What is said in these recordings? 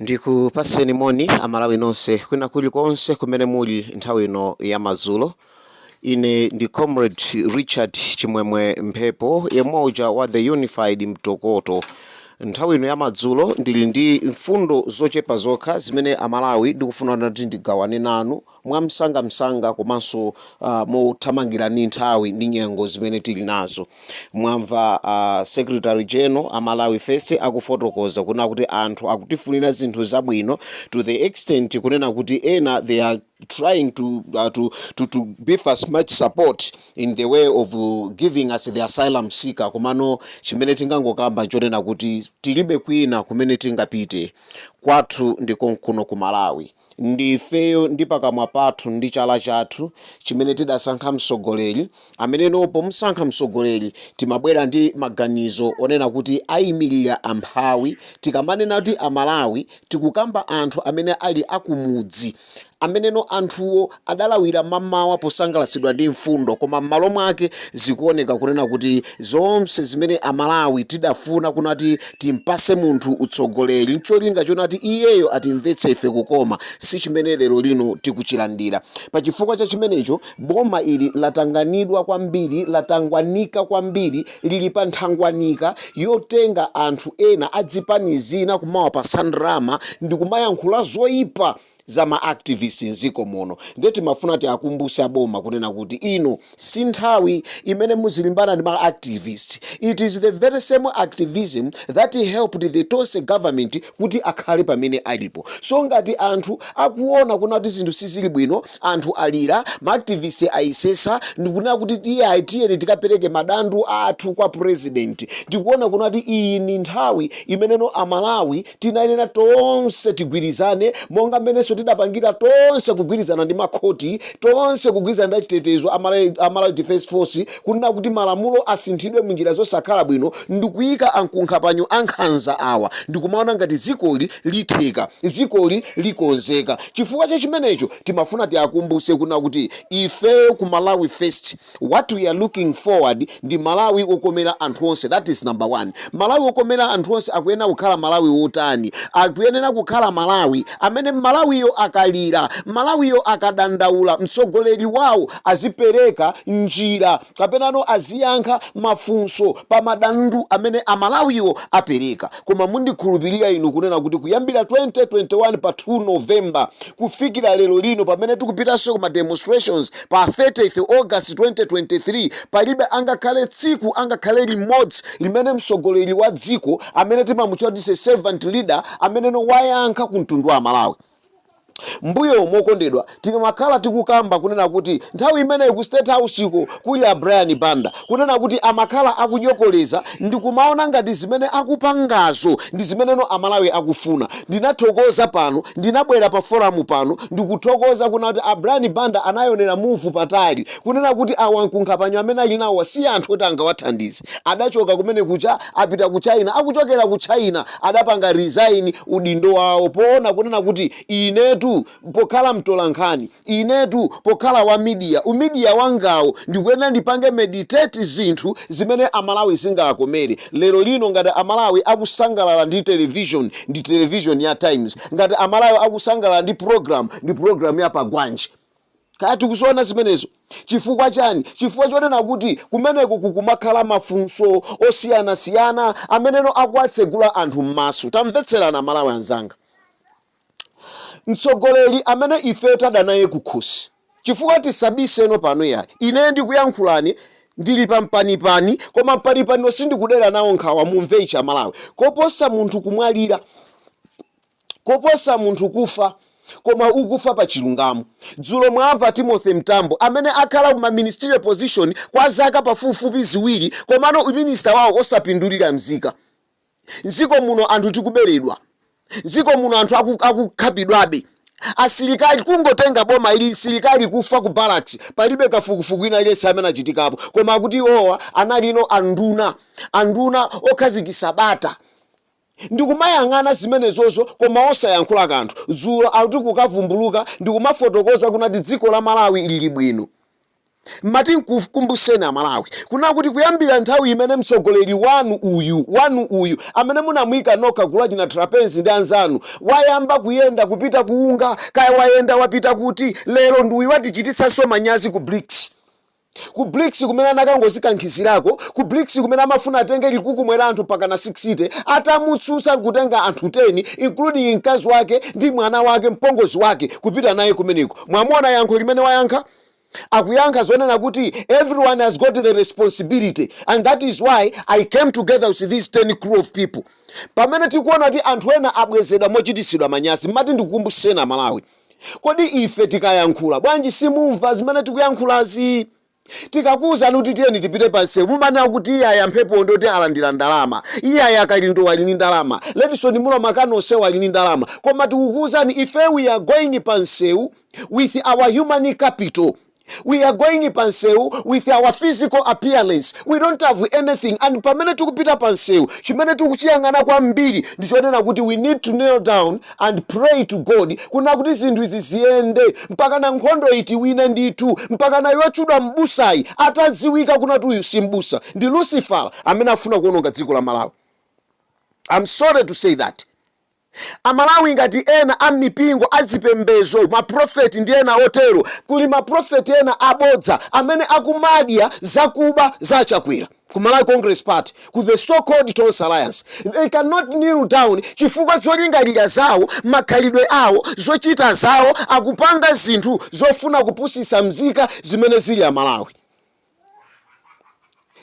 ndikupaseni moni amalawi nonse kwina kuli konse kumene muli nthawi ino ya madzulo ine ndi comrade richard chimwemwe mphepo yemwe uja wa the unified mtokoto nthawi ino ya madzulo ndili ndi mfundo zochepa zokha zimene amalawi ndikufuna kuti ndigawane nanu mwamsangamsanga komanso ah, mothamangira ndi nthawi ndi nyengo zimene tili nazo mwamva ah, secretary general a malawi first akufotokoza kuna kuti anthu akutifunira zinthu zabwino to the extent kunena kuti ena they are trying to, uh, to, to, to give as much support in the way of uh, giving us the asylum seeker komano chimene tingangokamba nchonena kuti tilibe kwina kumene tingapite kwathu ndi konkuno ku malawi Ndi ifeyo ndi pakamwa pathu ndi chala chathu chimene tidasankha mtsogoleri amene pomsankha mtsogoleri timabwera ndi maganizo onena kuti aimilire amphawi tikamanena kuti amalawi tikukamba anthu amene ali akumudzi ameneno anthuwo adalawira mmamawa posangalatsidwa ndi mfundo koma mmalo mwake zikuoneka kunena kuti zonse zimene amalawi tidafuna kunati timpase munthu utsogoleri ncholinga chonati iyeyo atimvetse ife kukoma si chimene lero lino tikuchilandira pachifukwa cha chimenecho boma ili latanganidwa kwambiri latangwanika kwambiri lili pa nthangwanika yotenga anthu ena adzipani zina kumawapatsa ndalama ndikumayankhula zoipa za ma activist mziko muno ndiye timafuna tiakumbuse aboma kunena kuti ino si nthawi imene muzilimbana ndi ma activist it is the very same activism that helped the tonse government kuti akhale pamene alipo so ngati anthu akuona kuna kuti zinthu sizili bwino anthu alira ma activist ayisesa ndikunena kuti iyayi tiyeni tikapereke madandu athu kwa president ndikuona kuna kuti iyi ni nthawi imeneno amalawi Tinayenera tonse tigwirizane, monga mmenenso tidapangira tonse kugwirizana ndi makhoti, tonse kugwirizana ndi achitetezo a Malawi Defence Force, kunena kuti malamulo asinthidwe munjira zosakhala bwino ndikuika ankunkhapanyo ankhanza awa ndikumaona ngati dzikoli litheka, dzikoli likonzeka. Chifukwa cha chimenecho, timafuna tiakumbutse kunena kuti ife ku Malawi First. What we are looking forward ndi Malawi wokomera anthu onse that is number one. Malawi wokomera anthu onse akuyenera kukhala Malawi wotani? Akuyenera kukhala Malawi amene Malawiyo akalira, Malawiyo akadandaula mtsogoleri wawo azipereka njira kapenano aziyankha mafunso pa madandu amene Amalawiwo apereka. Koma mundikhulupilira inu kunena kuti kuyambira 2021 pa 2 November kufikira lero lino pamene tikupitanso ku ma demonstrations pa 30th August 2023 palibe angakhale tsiku angakhale limodzi limene mtsogoleri wa dziko amene timamutchula kuti is a servant leader ameneno wayankha ku mtundu wa amalawi. Mbuyomo okondedwa tikamakhala tikukamba kunena kuti nthawi imeneyo ku state house ko kuli a Brian Banda kunena kuti amakhala akudyokoleza ndikumaona ngati zimene akupangazo ndi zimeneno a Malawi akufuna ndinathokoza pano ndinabwera pa forum pano ndikuthokoza kunena kuti a Brian Banda anaionera move patali kunena kuti awa nkunkhapanyo amene ali nawowa si anthu oti angawathandize adachoka kumene kuja apita ku China akuchokera ku China adapanga resign udindo wawo poona kunena kuti inetu pokhala mtolankhani, inetu pokhala wa media, u media wangawo ndikuyenera ndipange meditate zinthu zimene Amalawi zingakomere. Lero lino ngati Amalawi akusangalala ndi television, ndi television ya Times, ngati Amalawi akusangalala ndi program, ndi program ya Pagwanji. Kaya tikuziona zimenezo. Chifukwa chani? Chifukwa chonena kuti kumeneko kukumakhala mafunso osiyanasiyana ameneno akuwatsegula anthu mmaso. Tamvetserani amalawi anzanga. Mtsogoleri amene ife tada naye kukhosi. Chifukwa tisabiseno pano yayi. Ine ndikuyankhulani ndili pa mpanipani koma mpanipaniwo sindikudera nawo nkhawa mumve ichi amalawi. Koposa munthu kumwalira. koposa munthu kufa koma ukufa pa chilungamo. Dzulo mwamva Timothy Mtambo amene akhala ku ma ministerial position kwa zaka pafupifupi ziwiri komano u minister wawo osapindulira mzika. Mziko muno anthu tikuberedwa. Mziko muno anthu akukhapidwabe. Asilikali kungotenga boma ili msilikali kufa ku barracks palibe kafukufuku wina aliyense amene achitikapo koma akuti iwowa analinso nduna anduna okhazikisa bata. ndikumayang'ana zimenezozo koma osayankhula kanthu, dzulo akuti kukavumbuluka ndikumafotokoza kunati dziko la Malawi lili bwino mmati nkukumbutseni amalawi kuna kuti kuyambira nthawi imene mtsogoleri wanu uyu wanu uyu amene munamuika nokha gulu achina Trapence ndi anzanu wayamba kuyenda kupita ku UNGA kaya wayenda wapita kuti lero ndi uyu watichititsanso manyazi ku Brics Ku Brics kumene anakangozikankhizirako, ku Brics kumene amafuna atenge chikhukumwe la anthu mpakana 60, atamutsutsa nkutenga anthu 10 including mkazi wake ndi mwana wake, mpongozi wake, kupita naye kumeneko. Mwamuona yankho limene wayankha? Akuyankha zonena kuti everyone has got the responsibility and that is why I came together with these 10 crew of people. Pamene tikuona kuti anthu ena abwezedwa mochititsidwa manyazi, mmati ndikukumbutseni a Malawi. Kodi ife tikayankhula, bwanji simumva zimene tikuyankhulazi? Tikakuuzani kuti tiyeni tipite pa msewu, mumanena kuti iyayi a Mphepowo ndi oti alandira ndalama, iyayi a Kalindowo ali ndi ndalama, Redson Munlo makani onsewo ali ndi ndalama. Koma tikukuuzani ife we are going pa msewu with our human capital. we are going pa msewu with our physical appearance we don't have anything and pamene tikupita pa msewu chimene tikuchiyang'ana kwambiri ndi chonena kuti we need to kneel down and pray to god kuna kuti zinthu izi ziyende mpaka na nkhondo itiwine ndithu mpaka nayo otchedwa m'busayi atadziwika kuna kuti uyu si m'busa ndi lucifer amene afuna kuwononga dziko la malawi i'm sorry to say that Amalawi ngati ena a mipingo azipembezo ma prophet ndi ena otero kuli ma prophet ena abodza amene akumadya zakuba za achakwera ku Malawi congress party ku the so called tonse alliance they can not kneel down chifukwa zolingalira zawo makhalidwe awo zochita zawo akupanga zinthu zofuna kupusisa mzika zimene zili amalawi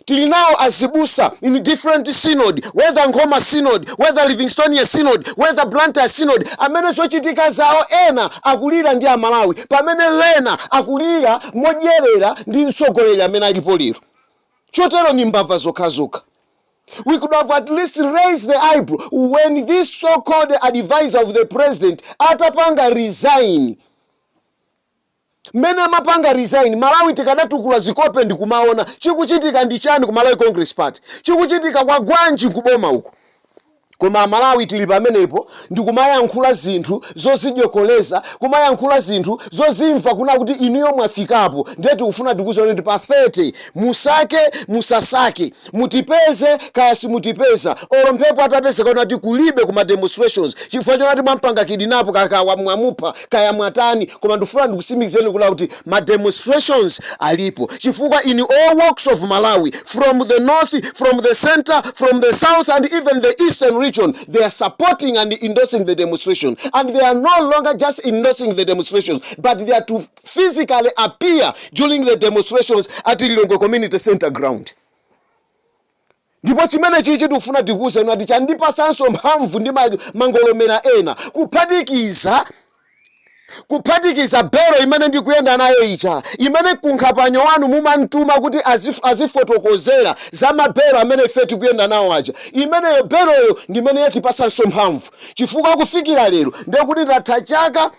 tili nawo azibusa in different synod whether nkhoma synod whether livingstonia synod whether blantyre synod amene zochitika zawo ena akulira ndi amalawi pamene ena akulira modyerera ndi mtsogoleri amene alipo lero chotero ndi mbava zokhazokha We could have at least raised the eyebrow when this so-called advisor of the president atapanga resign mmene amapanga resign malawi tikadatukula zikope ndikumaona chikuchitika ndi chani ku malawi congress party chikuchitika kwagwanji ku boma uku koma amalawi tili pamenepo ndikumayankhula zinthu zozidyolekeza kumayankhula zinthu zozimva kuna kuti inuyo mwafikapo ndiye tikufuna tikuoneni kuti pa 30 musake musasake Mutipeze kaya simutipeza olo Mphepo atapezeka kuti ati kulibe ku ma demonstrations chifukwa choti ati mwampanga kidnap kaya kaya mwamupha kaya mwatani koma ndikufuna ndikusimikizireni kunena kuti ma demonstrations alipo chifukwa in all walks of Malawi from the north, from the centre, from the south and even the eastern region they are supporting and endorsing the demonstration and they are no longer just endorsing the demonstrations but they are to physically appear during the demonstrations at Lilongwe Community Center ground. ndipo chimene chichi tikufuna tikuwuzeni ati chandipasanso mphamvu ndi ma- mangolomera ena kuphatikiza kuphatikiza bero imene ndikuyenda nayo ija imene Kunkuyu wanuyo mumamtuma kuti azif, azifotokozera za mabero amene ife tikuyenda nawo aja imeneyo beroyo ndimene yatipasanso mphamvu chifukwa kufikira lero ndekuti ndatha chaka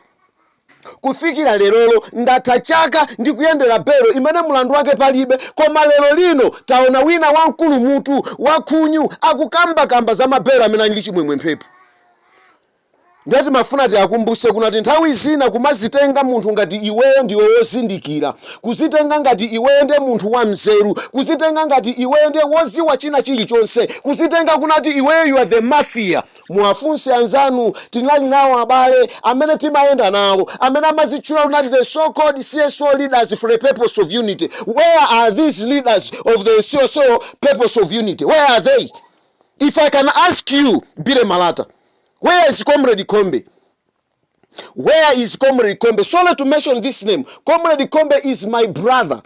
Kufikira lerolo ndatha chaka ndikuyendera belo imene mlandu wake palibe, koma lero lino taona wina wamkulu mutu, wakhunyu akukambakamba za mabelo amene ali Chimwemwe Mphepo. Ndiye timafuna tiakumbuse kunati nthawi zina kumazitenga munthu ngati iweyo ndiwe wozindikira, kuzitenga ngati iweyo ndiye munthu wa mzeru, kuzitenga ngati iweyo ndiye woziwa china chilichonse, kuzitenga kunati iweyo you are the mafia. Muwafunse anzanu, tinali nawo abale amene timayenda nawo amene amazitchula kunati the so called cso leaders for the purpose of unity, where are these leaders of the cso purpose of unity? Where are they? If I can ask you Billy Malata, where is comrade Kombe? Where is Comrade Kombe? Sorry to mention this name. Comrade Kombe is my brother,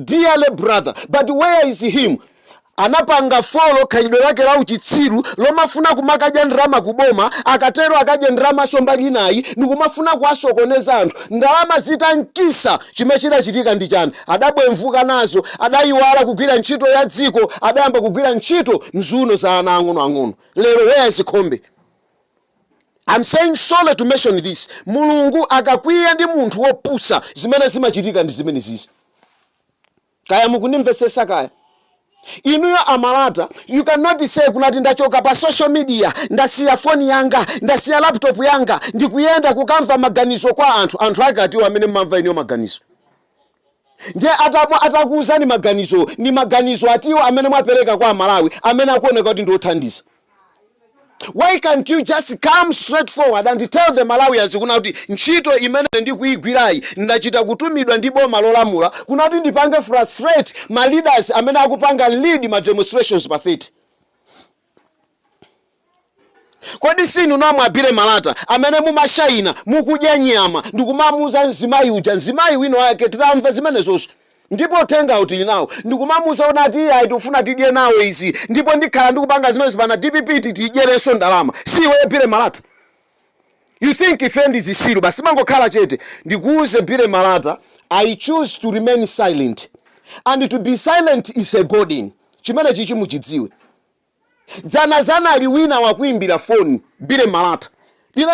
dearly brother. But where is him? anapanga follow khalidwe lake la uchitsiru lomafuna kumakadya ndalama kuboma akatero akadye ndalamaso mbali inayi ndikumafuna kuwasokoneza anthu ndalama zitankisa chimene chidachitika ndi chani adabwemvuka nazo adayiwala kugwira ntchito ya dziko adayamba kugwira ntchito m'ziuno za ana ang'onoang'ono lero where is kombe I am saying sorry to mention this mulungu akakwiya ndi munthu wopusa zimene zimachitika ndi zimenezizi kaya mukundimvesesa kaya inuyo a Malata you cannot say kunati ndachoka pa social media ndasiya foni yanga ndasiya laptop yanga ndikuyenda kukamva maganizo kwa anthu anthu ake atiwo amene mmamva inuyo maganizo Ndiye ata atakuuzani maganizowo, ndi maganizo atiwo amene mwapereka kwa Amalawi amene akuoneka kuti ndi othandiza? Why can't you just come straight forward and tell the Malawians kuna kuti ntchito imene ine ndikuigwirayi ndachita kutumidwa ndi boma lolamula kuna kuti ndipange frustrate ma leaders amene akupanga lead ma demonstrations pa 30. Kodi siinu nomwe a Billy Malata amene mumashaina mukudya nyama ndikumamuuza mzimayi uja, mzimayi wina wake titamva zimenezoso ndipo uthengawo tili nawo, ndikumamuuza kunati ayi tikufuna tidye nawo izi ndipo ndikhala ndikupanga zimenezi mpaka DPP tiyidyereso ndalama, si iweyo Billy Malata? You think ife ndi zisiru basi timangokhala chete ndikuuze Billy Malata I choose to remain silent and to be silent is a golden chimenechichi muchidziwe. Dzana anali wina wakuimbira foni Billy Malata,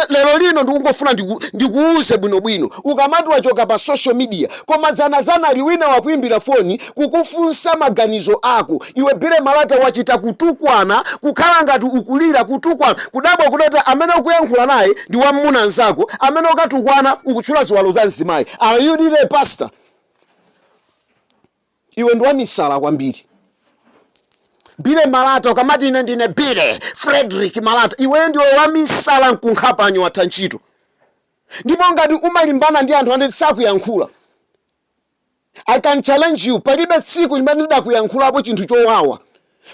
lero lino ndikungofuna ndiku, ndikuuze bwinobwino ukamati wachoka pa social media koma dzana dzana anali wina wakuimbira foni kukufunsa maganizo ako iwe billy malata wachita kutukwana kukhala ngati ukulira kutukwana kudabwa kunena kuti amene ukuyankhula naye ndi wammuna nzako amene ukatukwana ukutchula ziwalo za mzimayi are you really a pastor iwe ndi wamisala kwambiri billy malata ukamati ine ndine billy frederick malata iweyo ndiwe wamisala mkunkhapanyo watha ntchito ndipo ngati umalimbana ndi anthu amene sakuyankhula I can challenge you palibe tsiku limene ndidakuyankhulapo chinthu chowawa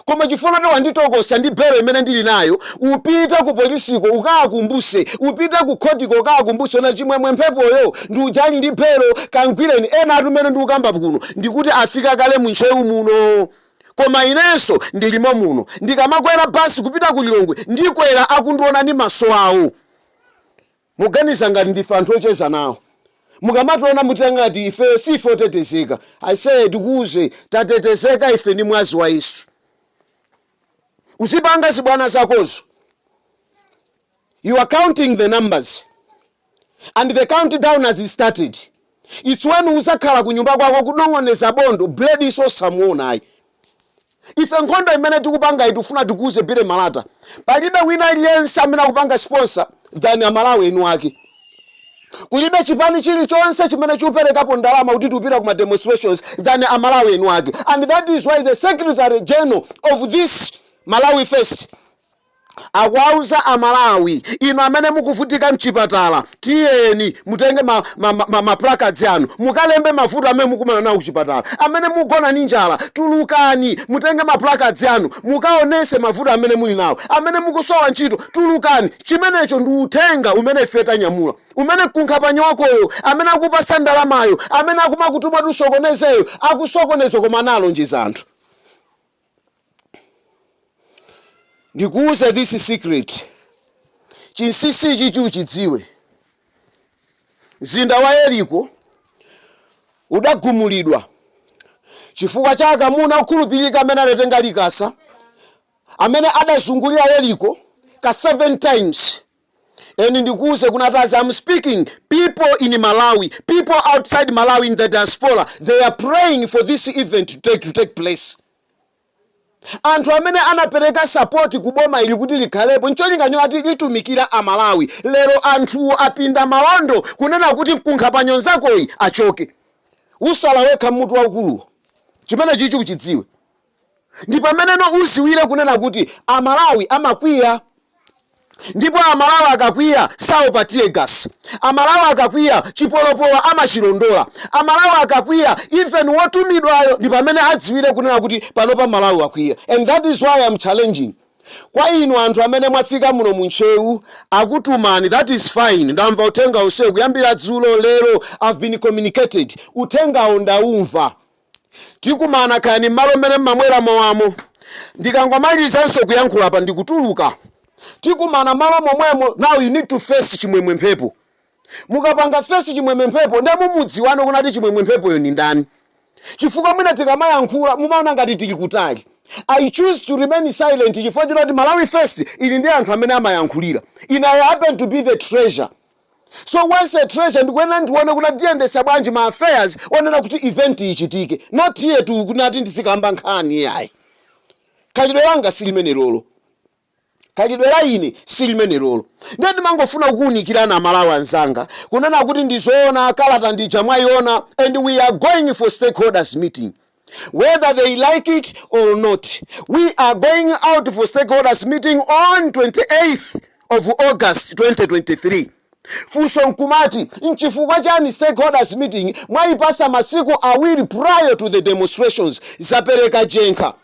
koma chifukwa choti wanditokosa ndi belo imene ndili nayo upite ku polisiko ukaakumbuse upite ku khotiko ukaakumbuse na chimwemwe mphepoyo ndi uja ali ndi belo kamgwireni enatu mmene ndikukamba kuno ndikuti afika kale mu ntcheu muno koma inenso ndilimo muno ndikamakwera basi kupita ku lilongwe ndikwera akundiona ndi maso awo Muganiza ngati ndife anthu ocheza nawo? Mukamationa muchita ngati ife si ife otetezeka. Aise tikuuze, tatetezeka ife ndi mwazi wa Yesu. Uzipanga zibwana zakozo, you are counting the numbers and the countdown has started. Its when uzakhala kunyumba kwako kunong'oneza bondo blade so osamuona ayi. Ife nkhondo imene tikupangayi tikufuna tikuuze Billy Malata palibe wina aliyense amene akupanga sponsor than amalawi eni ake. Kulibe chipani chilichonse chimene chikupelekapo ndalama kuti tikupita ku ma demonstrations than amalawi eni ake and that is why the secretary general of this Malawi first, akuwauza a Malawi inu amene mukuvutika mchipatala tiyeni mutenge ma, ma, ma, ma, ma placards anu mukalembe mavuto amene mukumana nawo kuchipatala amene mugona ni njala tulukani mutenge ma placards anu mukaonese mavuto amene muli nawo amene mukusowa ntchito tulukani chimenecho ndi uthenga umene ife tanyamula umene kunkhapanyo wakoyo amene akupasa ndalamayo amene akumakutuma kuti usokonezeyo akusokoneza koma analonjeza anthu ndikuuza this secret chinsisi ichichi uchidziwe mzinda wa yeriko udagumulidwa chifukwa cha akamuna okhulupirika amene adatenga likasa amene adazungulira yeriko ka 7 times and ndikuuze kunena kuti as am speaking people in malawi people outside malawi in the diaspora they are praying for this event to take, to take place anthu amene anapereka sapoti ku boma ili kuti likhalepo ncholinga choti litumikire amalawi lero anthuwo apinda maondo kunena kuti mkunkhapanyo nzakoyi achoke usala wekha mutu waukuluwo chimenechichi uchidziwe ndi pameneno uziwire kunena kuti a Malawi amakwiya ndipo a Malawi akakwiya saopa teargas, a Malawi akakwiya chipolopolo amachilondola, a Malawi akakwiya even wotumidwayo ndi pamene adziwire kunena kuti panopa Malawi akwiya and that is why am challenging kwa inu anthu amene mwafika muno mu Ntcheu akutumani that is fine ndamva uthenga onsewu kuyambira dzulo, lero I've been communicated uthengawo ndaumva. tikumana kaya ndi mmalo mmene mmamwera mowamo ndikangomalizanso kuyankhula apa ndikutuluka tikumana malo momwemo now you need to face chimwemwe mphepo mukapanga face chimwemwe mphepo nde mumudziwano kunati chimwemwe mphepoyo ni ndani chifukwa mwina tikamayankhula mumaona ngati tili kutali i choose to remain silent chifukwa choti malawi first ili ndi anthu amene amayankhulira and I happen to be the treasurer So once a treasurer ndikuyenera ndione kuti ndiyendetsa bwanji ma affairs onena kuti event ichitike not here to kunati ndizikamba nkhani yayi khalidwe langa silimenelolo khalidwe la ine silimenelolo ndiye ndimangofuna kukuunikirana amalawi anzanga kunena kuti ndizoona kalata ndija mwayiona and we are going for stakeholders meeting whether they like it or not we are going out for stakeholders meeting on 28th of august 2023 funso nkumati nchifukwa chani stakeholders meeting mwayipasa masiku awiri prior to the demonstrations zapereka jenkha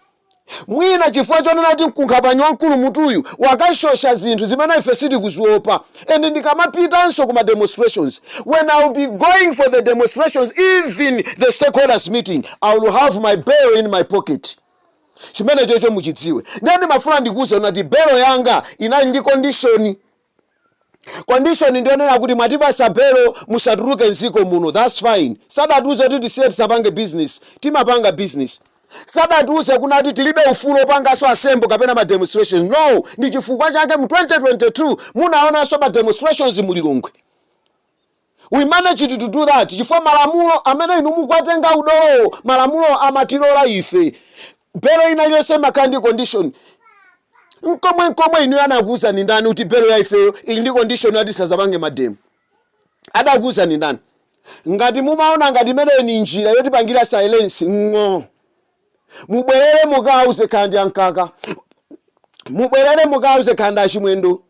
Mwina chifukwa chonena kuti mkunkhapanyi wamkulu mutuyu wakashosha zinthu zimene ife sitikuziopa and ndikamapitanso ku ma demonstrations when I will be going for the demonstrations even the stakeholders meeting I will have my bail in my pocket chimenechocho muchidziwe ndiye ndimafuna ndikuuze kuti belo yanga inali ndi condition condition ndi yonena kuti mwatipasa belo musatuluke mdziko muno thats fine sadatiuze kuti tisiye tisapange business timapanga business sadatiuze kunati tilibe ufulu opangaso assemble kapena ma demonstrations no ndi chifukwa chake mu 2022 munaonanso ma demonstrations mulilongwe We managed to do that chifukwa malamulo amene inu mukuwatenga udolowo malamulowo amatilora ife. Belo ina iliyonse imakhala ndi condition. Nkomwe nkomwe inuyo anakuuzani ndani kuti belo ya ifeyo ili ndi condition yoti tisazapange mademo? Adakuuzani ndani? Ngati mumaona ngati imeneyo ni njira yotipangira silence ng'oo. mubwerere mukauze kaya ndi a Mkaka mubwerere mukauze kaya ndi a Chimwendo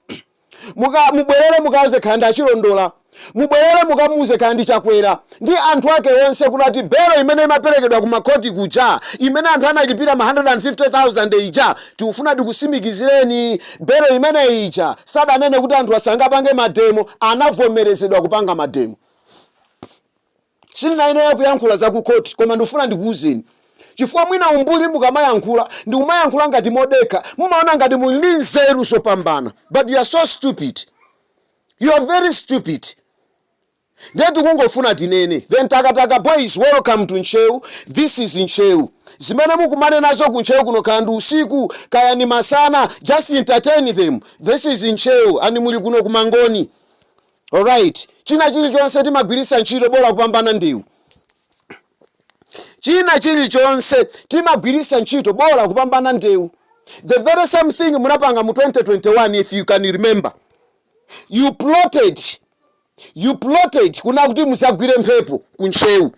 mubwerere mukauze kaya ndi achilondola mubwerere mukamuuze kaya ndi chakwera ndi anthu ake onse kunati belo imene imaperekedwa ku makhoti kuja imene anthu analipira ma 150000 ija tikufuna tikutsimikizireni belo imene ija sadanene kuti anthu asadzapange mademo anavomerezedwa kupanga mademo Sindinayenere kuyankhula za ku court koma ndikufuna ndikuuzeni chifukwa mwina umbuli mukamayankhula ndikumayankhula ngati modekha mumaona ngati muli ndi nzeru zopambana but you're so stupid you're very stupid ndiye tikungofuna tinene the Ntakataka boys welcome to Ntcheu this is Ntcheu zimene mukumane nazo ku Ntcheu kuno kaya ndi usiku kaya ndi masana just entertain them this is Ntcheu and muli kuno ku Mangoni Alright, china chilichonse timagwiritsa ntchito bola kupambana ndewu. China chilichonse timagwiritsa ntchito bola kupambana ndewu. The very same thing munapanga mu 2021 if you can remember. You plotted, you plotted kuna kuti muzagwire Mphepo ku Ntcheu.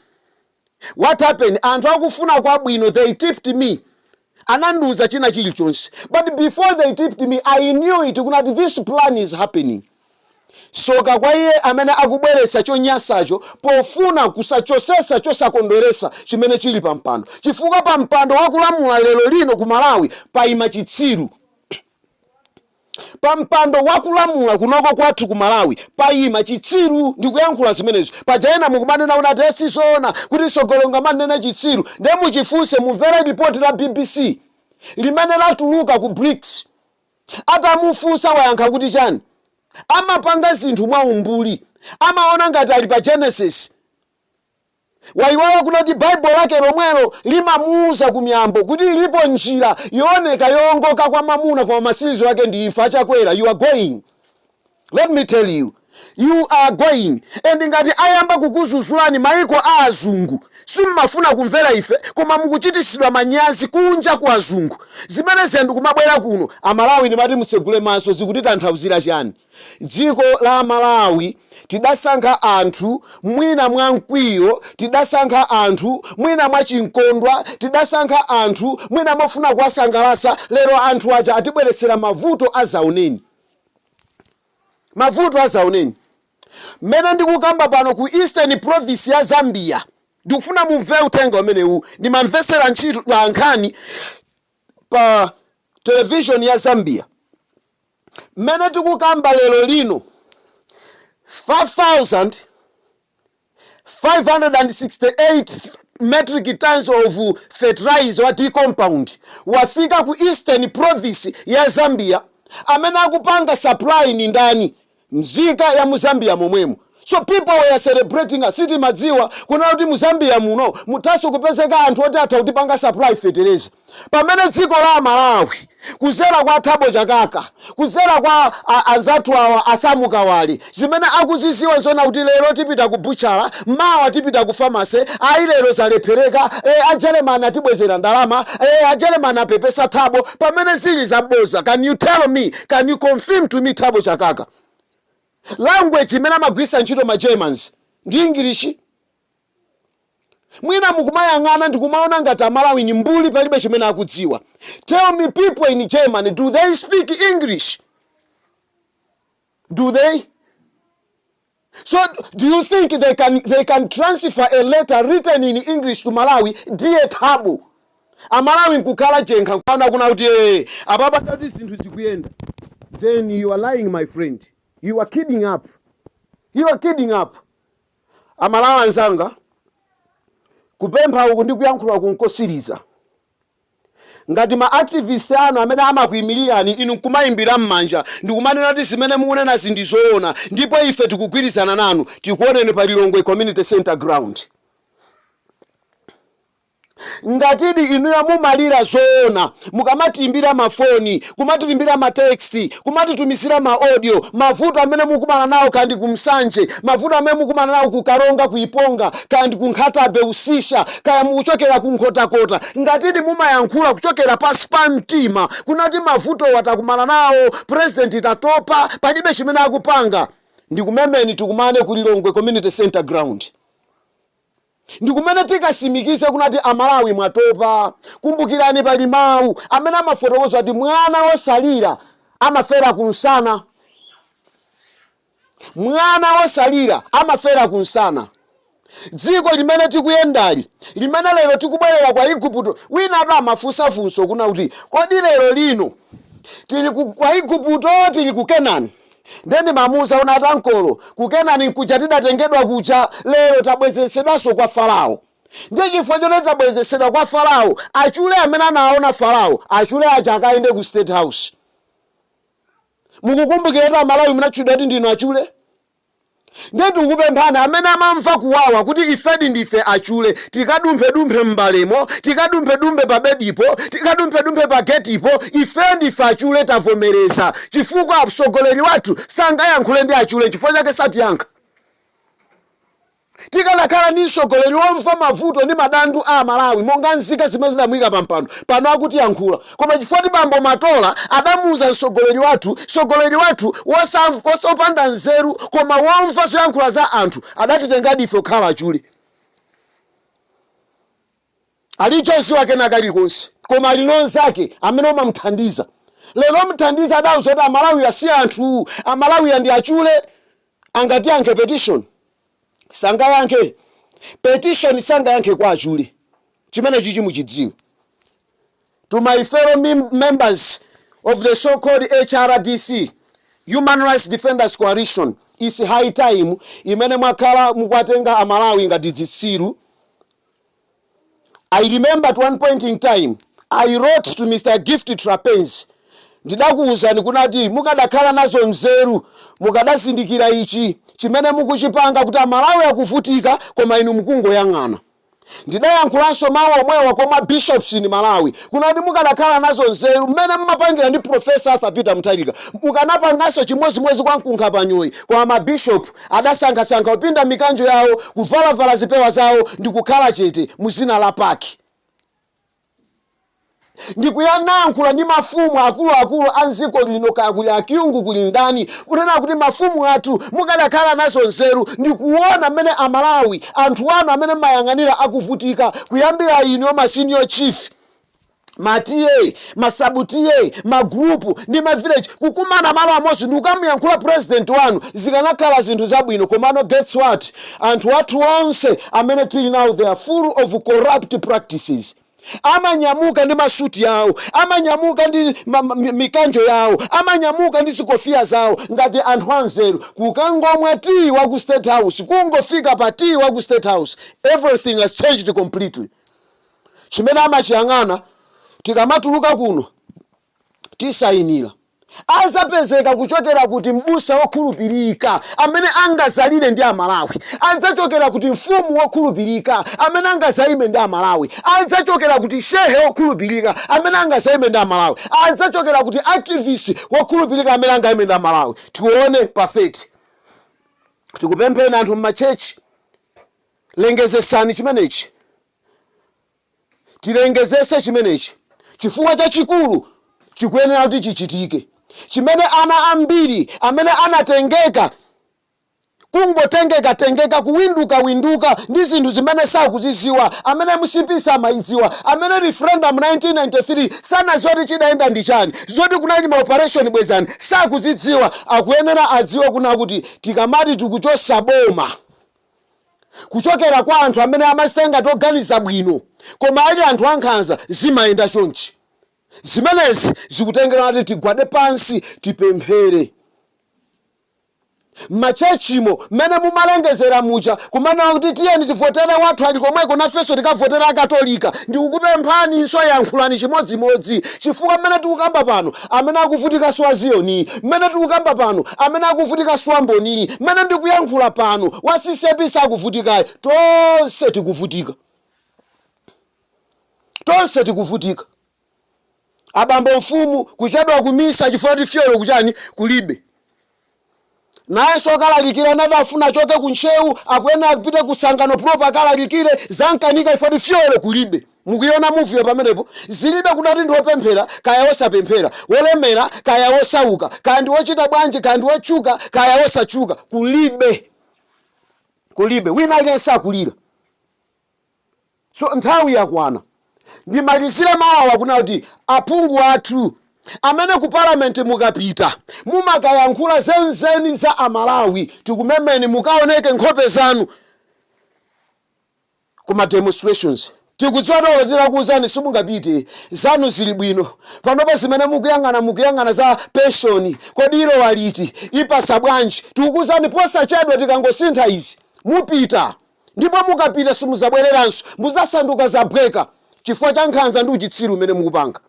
what happened anthu akufuna kwabwino they tipped me anandiuza china chilichonse but before they tipped me i knew it kunati this plan is happening soka kwa iye amene akubweretsa chonyasacho pofuna kuzachosesa chosakondweresa chimene chili pa mpando chifukwa pa mpando wakulamula lero lino ku malawi paima chitsiru Pampando wakulamula kunoko kwathu ku Malawi payima chitsiru ndikuyankhula zimenezo. Paja ena mukumanena kunati si zoona kuti mtsogoleri ungamunene chitsiru nde muchifunse mumvere lipoti la bbc limene latuluka ku BRICS. Atamufunsa wayankha kuti chani? Amapanga zinthu mwa umbuli. Amaona ngati ali pa Genesis. Wayiwala kunati Bible lake lomwelo limamuuza ku Miyambo kuti ilipo njira yooneka yoongoka kwa mwamuna koma matsiriziro ake ndi imfa. Achakwera you are going. Let me tell you you are going and ngati ayamba kukuzuzulani maiko a azungu simmafuna kumvera ife koma mukuchitisidwa manyazi kunja kwa azungu zimene zizindikumabwera kuno amalawi ndimati mutsegule maso zikutitanthauzira chani? Dziko la Malawi tidasankha anthu mwina mwa mkwiyo, tidasankha anthu mwina mwa chimkondwa, tidasankha anthu mwina mofuna kuwasangalatsa, lero anthu aja atibweretsera mavuto adzaoneni. Mavuto adzaoneni. Mmene ndikukamba pano ku Eastern Province ya Zambia, ndikufuna mumve uthenga umenewu, ndimamvetsera mchitu la nkhani pa television ya Zambia mmene tikukamba lero lino 5568 metric tons of fertilizer wa D compound wafika ku Eastern Province ya Zambia amene akupanga supply ni ndani mzika ya mu zambia momwemo so people were celebrating us sitimadziwa kunena kuti mu zambia muno muthanso kupezeka anthu oti atha kutipanga supply feteleza pamene dziko la malawi kuzera kwa thabo chakaka kuzera kwa a- anzathu awa a sam kawale zimene akuziziwa nzonama kuti lero tipita ku buchala mawa tipita ku pharmacy ayi lero zalephereka e, ajeremani atibwezera ndalama e, ajeremani apepesa thabo pamene zili zaboza can you tell me can you confirm to me thabo chakaka language imene amagwiritsa ntchito ma germans ndi english mwina mukumatiyang'ana ndikumaona ngati amalawi ni mbuli palibe chimene akudziwa tell me people in germany do they speak english do they So do you think they can transfer a letter written in English to Malawi dear Thabo amalawi nkukhala jenkha nkwana kuna kuti ee apapadi zinthu zikuyenda then you are lying my friend you are kidding up you are kidding up amalawi anzanga kupempha uku ndi kuyankhula kunkosiriza Ngati ma activist anu amene amakuimilirani inu nkumaimbira mmanja ndikumanena kuti zimene mukunenazi ndi zoona ndipo ife tikugwirizana nanu, tikuoneni pa Lilongwe Community Centre ground. Ngatidi inuyo mumalira zoona mukamatiimbira mafoni kumatilembera ma text, kumatitumizira ma audio, mavuto amene mukumana nawo kaya ndi ku Nsanje, mavuto amene mukumana nawo ku Karonga, ku Iponga, kaya ndi ku Nkhatabe, Usisya, kaya mukuchokera ku Nkhotakota, ngatidi mumayankhula kuchokera pansi pa mtima kunati mavutowa takumana nawo, president tatopa, palibe chimene akupanga, ndikumemeni tikumane ku Lilongwe Community Centre Ground. ndikumene tikasimikize kunati amalawi mwatopa kumbukirani pali mawu amene amafotokoza kuti mwana wosalira amafera kunsana mwana wosalira amafera kunsana dziko limene tikuyendali limene lero tikubwerera kwa igupto winatu amafunsa funso kuna kuti kodi lero lino tili kwa igupto tili ku kenani Ndiye ndimamuuza kuti, Atankolo, ku Kenani nkuja tidatengedwa kuja, lero tabwezeretsedwanso kwa Farao. Ndiye chifukwa choti tabwezeretsedwa kwa Farao, achule amene anaona Farao, achule aja akayende ku State House. Mukukumbukira kuti Amalawi munatchulidwa kuti ndinu achule? Ndiye tikukupemphani amene mamva kuwawa kuti ifedi ndife achule, tikadumphedumphe m'mbalemo, tikadumphedumphe pabedipo, tikadumphedumphe pagetipo, ifeyo ndife achule tavomereza chifukwa mtsogoleri wathu sangayankhule ndi achule chifukwa chake satiyankha. Tikanakhala ndi mtsogoleri womva mavuto ndi madandu a Amalawi monga nzika zimene zidamuika pampando, bwenzi akutiyankhula. Koma chifukwa kuti bambo Matola adamuuza mtsogoleri wathu, mtsogoleri wathu wosamva, wopanda nzeru koma womva zoyankhula za anthu, adatitengadi ife kukhala achule. Alibe choziwa kena kalikonse koma ali naye nzake amene amamthandiza. Lero mthandiza adauza kuti Amalawi si anthu, Amalawiwa ndi achule, angayankhe petition. sangayankhe petition sangayankhe kwa achule chimenechi muchidziwe to my fellow mem- members of the so called hrdc human rights defenders coalition it's high time imene mwakhala mukwatenga amalawi ngati zitsiru I remember at one point in time I wrote to Mr Gift Trapence ndidakuuzani kunati mukadakhala nazo mzeru mukadazindikira ichi chimene mukuchipanga kuti amalawi akuvutika koma inu mukungoyang'ana ndidayankhulanso mawu omwewa kwa ma bishops in malawi kunati mukadakhala nazo nzeru mmene mmapangira ndi professor arthur peter mutharika mukanapanganso chimodzimodzi kwa nkhukutembayi koma ma bishop adasankhasankha kupinda mikanjo yawo, kuvalavala zipewa zawo, ndi kukhala chete mu zina la Park, ndi kunayankhula ndi mafumu akuluakulu a m'dziko lino, kaya kuli a Kyungu, kuli ndani, kunena kuti mafumu athu, mukadakhala nazo nzeru ndi kuona m'mene a Malawi, anthu anu amene m'mayang'anira akuvutika, kuyambira inuyo ma Senior Chief. ma TA, ma sub TA, ma group ndi ma village kukumana malo amodzi ndikukamuyankhula president wanu zikanakhala zinthu zabwino komano guess what anthu athu onse amene tili nawo they are full of corrupt practices amanyamuka ndi ma suit yawo amanyamuka ndi ma, ma, mi- mikanjo yawo amanyamuka ndi zikofiya zawo ngati anthu anzeru kukangomwa tea wa ku state house kungofika pa tea wa ku state house everything has changed completely chimene amachiyang'ana tikamatuluka kuno tisayinira azapezeka kuchokera kuti m'busa wokhulupirika amene angazalire ndi amalawi adzachokera kuti mfumu yokhulupirika amene angazayime ndi amalawi adzachokera kuti shehe wokhulupirika amene angazayime ndi amalawi adzachokera kuti activist wokhulupirika amene angayime ndi amalawi tione pa 30 tikupempheni anthu m'ma church lengezesani chimenechi tilengezese chimenechi chifukwa chachikulu chikuyenera kuti chichitike chimene ana ambiri amene anatengeka kungotengeka tengeka kuwinduka winduka ndi zinthu zimene sakuziziwa amene mcp samayidziwa amene referendum 1993 sanaziwa kuti chidayenda ndi chani zoti kunali ma operation bwezani sakuzidziwa akuyenera adziwe kunena kuti tikamati tikuchosa boma kuchokera kwa anthu amene amachita ngati oganiza bwino koma ali anthu ankhanza zimayenda chonchi. Zimenezi zikutengera kuti tigwade pansi tipemphere. M'machechimo mmene mumalengezera muja kumanena kuti tiyeni tivotere wathu ali komweko nafenso tikavotere akatolika, ndikukupemphaninso yankhulani chimodzimodzi chifukwa mmene tikukamba pano amene akuvutika si wa Ziyoni, mmene tikukamba pano, amene akuvutika si wa Mboni, mmene ndikuyankhula pano, wa CCAP sakuvutikayi. Tonse tikuvutika, tonse tikuvutika. Abambo mfumu kuchedwa kumisa chifukwa choti fuel kuchani kulibe. Nayenso okalalikira ena adafuna achoke ku Ntcheu, akuyenera apite ku Tsangano proper akalalikire. Zamkanika chifukwa choti fuel kulibe. Mukuiona movie yo pamenepo? Zilibe kunena kuti ndi wopemphera kaya wosapemphera, wolemera kaya wosauka, kaya ndi wochita bwanji, kaya ndi wotchuka kaya wosatchuka. Kulibe. Kulibe. Wina aliyense akulira. So nthawi yakwana. Ndimalizire mau awa kunena kuti aphungu athu amene ku parliament mukapita mumakayankhula zenizeni za a Malawi tikumemeni mukaoneke nkhope zanu ku ma demonstrations. Tikudziwa kuti olo titakuuzani simungapite. Zanu zili bwino. Panopa zimene mukuyang'ana mukuyang'ana za pension. Kodi ilowa liti? Ipasa bwanji? Tikukuuzani posachedwa tikangosintha izi mupita. ndipo mukapita simuzabwereranso muzasanduka zabweka chifukwa cha nkhanza ndi uchitsiru umene mukupanga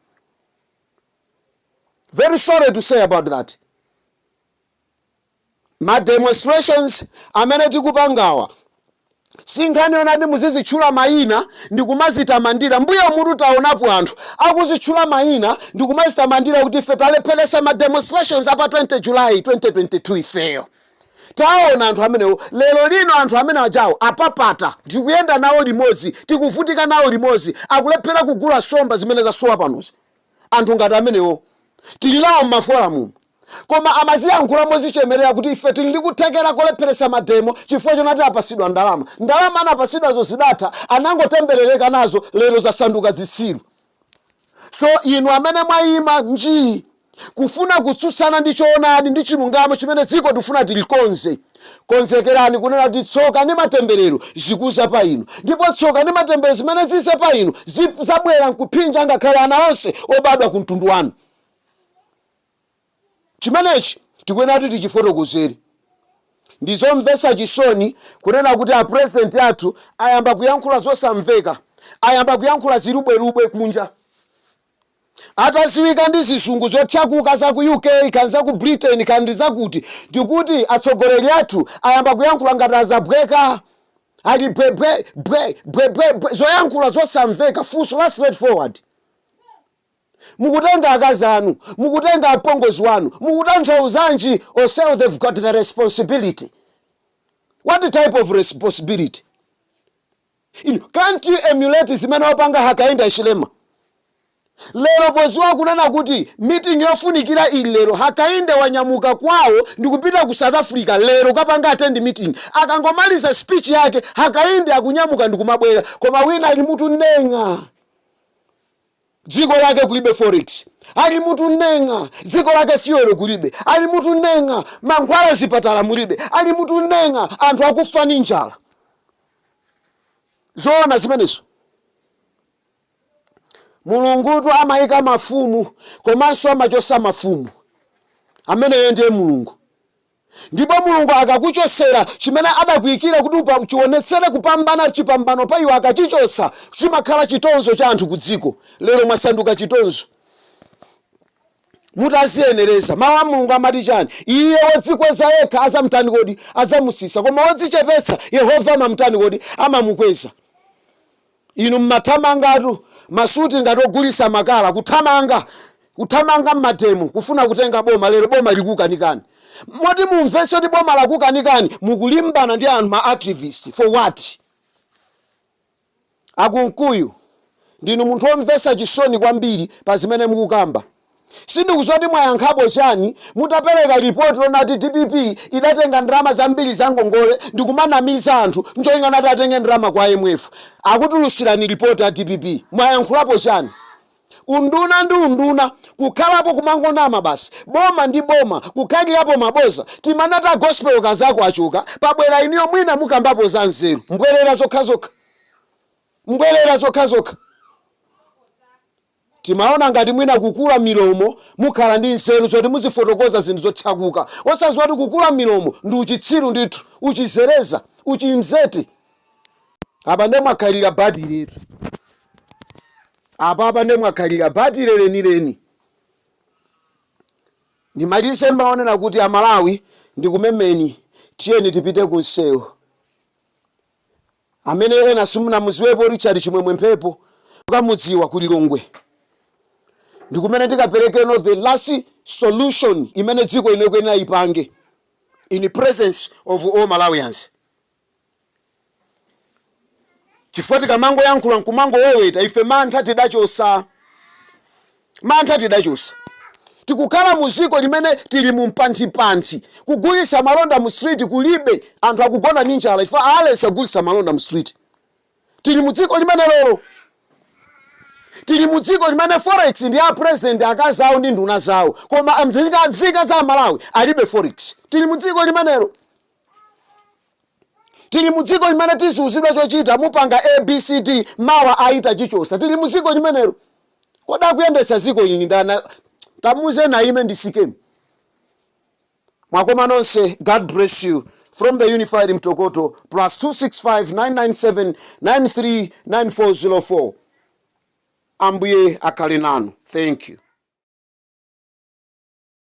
very sorry to say about that ma demonstrations amene tikupangawa sinkhani yonati muzizitchula mayina ndi kumazitamandira mbuyomutu taonapo anthu akuzitchula mayina ndi kumazitamandira kuti ife talepheresa ma demonstrations apa 20 july 2022 ifeyo Taona anthu amenewo lero lino, anthu amene ajawo apapata, tikuyenda nawo limodzi, tikuvutika nawo limodzi, akulephera kugula somba zimene zasowa panozi. Anthu ngati amenewo tili nawo m'mafolamumu koma amaziyankhula mozichemerera kuti ife tili ndi kuthekera kolepheretsa mademo chifukwa chonati apasidwa ndalama. Ndalama anapasidwazo zidatha, anangotemberereka nazo lero zasanduka zitsiru. So inu amene mwaima njii kufuna kutsutsana ndi choonadi ndi chilungamo chimene dziko tikufuna tilikonze, konzekerani kunena kuti tsoka ndi matemberero zikuza pa inu. Ndipo tsoka ndi matemberero zimene zize pa inu zidzabwera nkuphinja ngakhale ana onse obadwa ku mtundu wanu. Chimenechi tikuyenera kuti tichifotokozere. Ndi zomvetsa chisoni kunena kuti a president athu ayamba kuyankhula zosamveka, ayamba kuyankhula zilubwelubwe kunja. Atadziwika ndi zizungu zothyakuka za ku UK kaya za ku Britain kaya ndi za kuti, ndikuti atsogoleri athu ayamba kuyankhula ngati adzabweka. Ali bwe bwe bwe bwe bwe bwe zoyankhula zosamveka funso la straight forward. mukutenga akazi anu, mukutenga apongozi wanu, mukutanthauzanji onsewo they've got the responsibility what type of responsibility can't you emulate zimene wapanga hakainde hichilema lero poziwa kunena kuti meeting yofunikira ili lero hakainde wanyamuka kwawo ndikupita ku south africa lero kapanga attend meeting akangomaliza speech yake hakainde akunyamuka ndikumabwera koma wina ali mu tuneng'a dziko lake kulibe forex ali mu tuneng'a dziko lake fuel kulibe ali mu tuneng'a mankhwala m'zipatala mulibe ali mu tuneng'a anthu akufa ni njala zoona zimenezo mulungutu amayika mafumu komanso amachosa mafumu ameneyo ndiye mulungu Ndipo Mulungu akakuchotsera chimene adakuikira kuti upa, chionetsere kupambana chipambano pa iwo akachichotsa chimakhala chitonzo cha anthu ku dziko. Lero mwasanduka chitonzo. Mutaziyenereza. Mau a Mulungu amati chani? Iye wodzikweza yekha adzamtani kodi? Adzamutsitsa. Koma wodzichepetsa, Yehova amamtani kodi? Amamukweza. Inu mumathamangatu, masuti ngati ogulitsa makala, kuthamanga, kuthamanga mmademo kufuna kutenga boma, lero boma likukanikani. Moti mumvetse kuti boma lakukanikani, mukulimbana ndi anthu ma activist for what? A Kunkuyu ndinu munthu omvetsa chisoni kwambiri pa zimene mukukamba. Sindikuziwa kuti mwayankhapo chani mutapereka report lonati dpp idatenga ndalama zambiri za ngongole ndikumanamiza anthu ncholinga nati atenge ndalama kwa IMF. Akutulutsirani report ya dpp mwayankhulapo chani? Unduna ndi unduna kukhalapo kumangonama basi. Boma ndi boma kukhalirapo maboza. Timanati a Gospel Kazako achoka pabwera inuyo mwina mukambapo za nzeru. Mbwerera zokhazokha. Mbwerera zokhazokha. Timaona ngati mwina kukula milomo mukhala ndi nzeru zoti muzifotokoza zinthu zothyakuka, osaziwa kuti kukula milomo ndi uchitsiru ndithu, uchizereza, uchimzete. Apa nde mwakhalira batiletu. Apapa nde mwakhalira batile lenileni. Ndimalize ndi mau onena kuti a Malawi ndikumemeni tiyeni tipite ku nsewu. amene ena simunamudziwepo richard chimwemwe mphepo mukamudziwa ku lilongwe ndikumene ndikaperekeno the last solution imene dziko ino ikuyenera ipange in the presence of all malawians chifukwa tikamangoyankhula nkumangowoweta ife mantha tidachosa Mantha tidachosa. Tikukhala mu dziko limene tili mu mpanipani. Kugulitsa malonda mu street kulibe. Anthu akugona ndi njala chifukwa aletsa kugulitsa malonda mu street. Tili mu dziko limenelo. Tili mu dziko limene forex ndi a president, akazi awo ndi nduna zawo. Koma nzika za Malawi alibe forex. Tili mu dziko limenelo. tili mu dziko limene tikuuzidwa chochita mupanga abcd mawa ayi tachichotsa tili mu dziko limenelo kodi akuyendetsa dziko ili ndani tamuuzeni aime nditsikemu mwakoma nonse god bless you from the unified mtokoto plus 265 997 939404 ambuye akhale nanu thank you